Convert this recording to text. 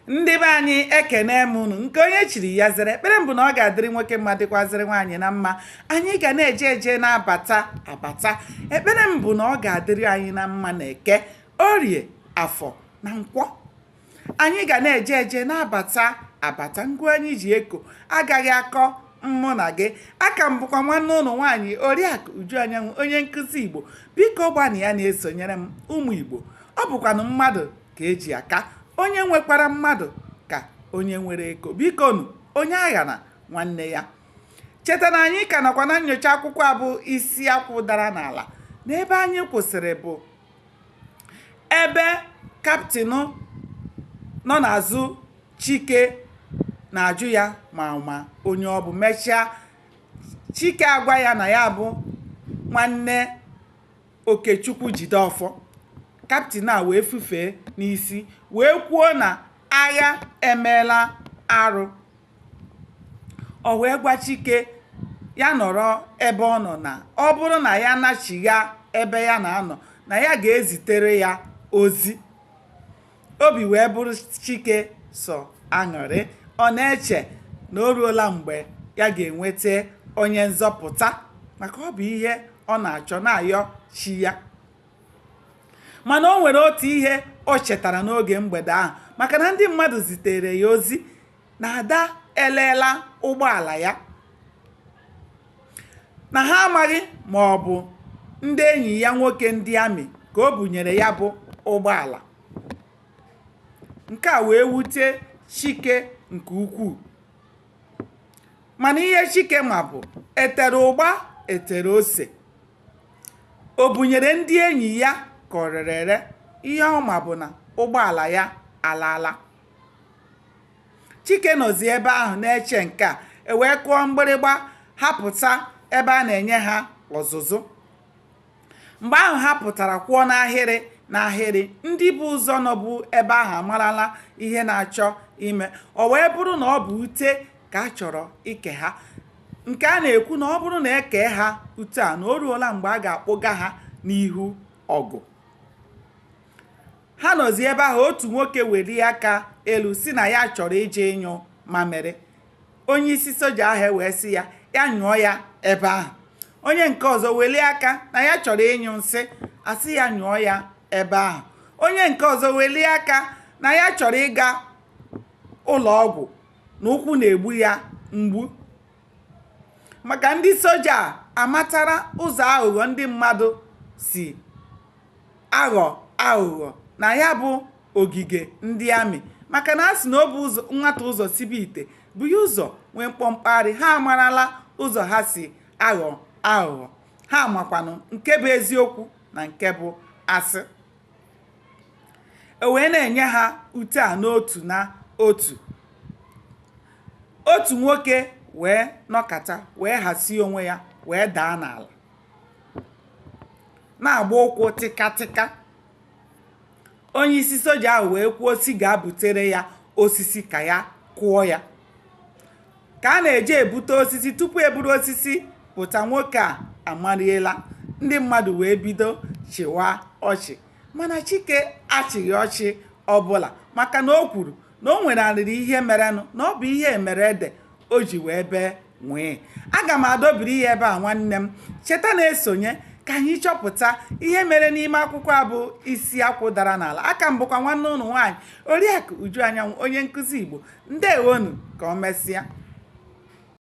ndị be anyị ekene m unu nke onye chiri ya zere ekpere m bụ na ọ ga-adịrị nwoke mma dịkwazịrị nwaanyị na mma anyị ga na-eje eje na-abata abata ekpere m bụ na ọ ga-adịrị anyị na mma na eke orie afọ na nkwọ anyị ga na-eje eje na-abata abata ngụ anyị ji eko agaghị akọ mụ na gị aka m bụkwa nwanne unu nwaanyị oriakụ uju anyanwụ onye nkụzi igbo biko gbanịa na-esonyere m ụmụ igbo ọ bụkwanụ mmadụ ka eji aka onye nwekwara mmadụ ka onye nwere ego bikonu onye aghana nwanne ya cheta na anyị ka nọkwa na nyocha akwụkwọ a bụ isi akwụ dara n'ala na ebe anyị kwụsịrị bụ ebe kaptịn nọ n'azụ chike na-ajụ ya ma ma onye ọ bụ mechaa chike agwa ya na ya bụ nwanne Okechukwu Jideọfọ, kaptịn a wee fufee n'isi wee kwuo na agha emeela arụ. O wee gwa Chike ya nọrọ ebe ọ nọ na ọ bụrụ na ya nachigha ebe ya na-anọ na ya ga-ezitere ya ozi. obi wee bụrụ chike sọ aṅụrị ọ na-eche na o ruola mgbe ya ga-enweta onye nzọpụta maka ọ bụ ihe ọ na-achọ na-ayọ chi ya mana o nwere otu ihe o chetara n'oge mgbede ahụ maka na ndị mmadụ zitere ya ozi na ada eleela ụgbọala ya na ha amaghị ma ọ bụ ndị enyi ya nwoke ndị amị ka o bunyere ya bụ ụgbọala nke a wee wute chike nke ukwuu mana ihe chike ma bụ etere ụgba etere ose o bunyere ndị enyi ya ka o rere ere ihe ọ ma bụ na ụgbọala ya alaala chike nọzi ebe ahụ na-eche nke a e wee kụọ mgbịrịgba ha pụta ebe a na-enye ha ọzụzụ mgbe ahụ ha pụtara kwụọ n'ahịrị n'ahịrị ndị bu ụzọ nọbu ebe ahụ amarala ihe na-achọ ime o wee bụrụ na ọ bụ ute ka a chọrọ ike ha nke a na-ekwu na ọ bụrụ na e kee ha ute a na o ruola mgbe a ga-akpụga ha n'ihu ọgụ ha nọzi ebe ahụ otu nwoke welie aka elu sị na ya chọrọ ije ịnyụ mamịrị onye isi soja ahụ e wee sị ya ya nyụọ ya ebe ahụ onye nke ọzọ welie aka na ya chọrọ ịnyụ nsị a sị ya nyụọ ya ebe ahụ onye nke ọzọ welie aka na ya chọrọ ịga ụlọ ọgwụ na ụkwụ na-egbu ya mgbu maka ndị soja a matara ụzọ aghụghọ ndị mmadụ si aghọ aghụghọ na ya bụ ogige ndị amị maka na a sị na ọ bụ nwata ụzọ sibe ite bụ ya ụzọ nwee mkpọmkpagharị ha amarala ụzọ ha si aghọ aghụghọ ha makwanụ nke bụ eziokwu na nke bụ asị e wee na-enye ha ute a n'otu n'otu otu nwoke wee nọkata wee hasie onwe ya wee daa n'ala na-agba ụkwụ tịkatịka onye isi soja ahụ wee kwuo sị gaa butere ya osisi ka ya kụọ ya ka a na-eje ebute osisi tupu e buru osisi pụta nwoke a amariela ndị mmadụ wee bido chịwa ọchị mana chike achịghị ọchị ọbụla maka na o kwuru na o nwerịrị ihe merenụ na ọ bụ ihe mere ede o ji wee bee nwịị aga m adọbiri ya ebe a nwanne m cheta na-esonye ka anyị chọpụta ihe mere n'ime akwụkwọ a bụ isi akwụ dara n'ala aka m bụkwa nwanne ụnụ nwaanyị Oriakụ Uju Anyanwụ onye nkụzi Igbo ndewonu ka o mesịa.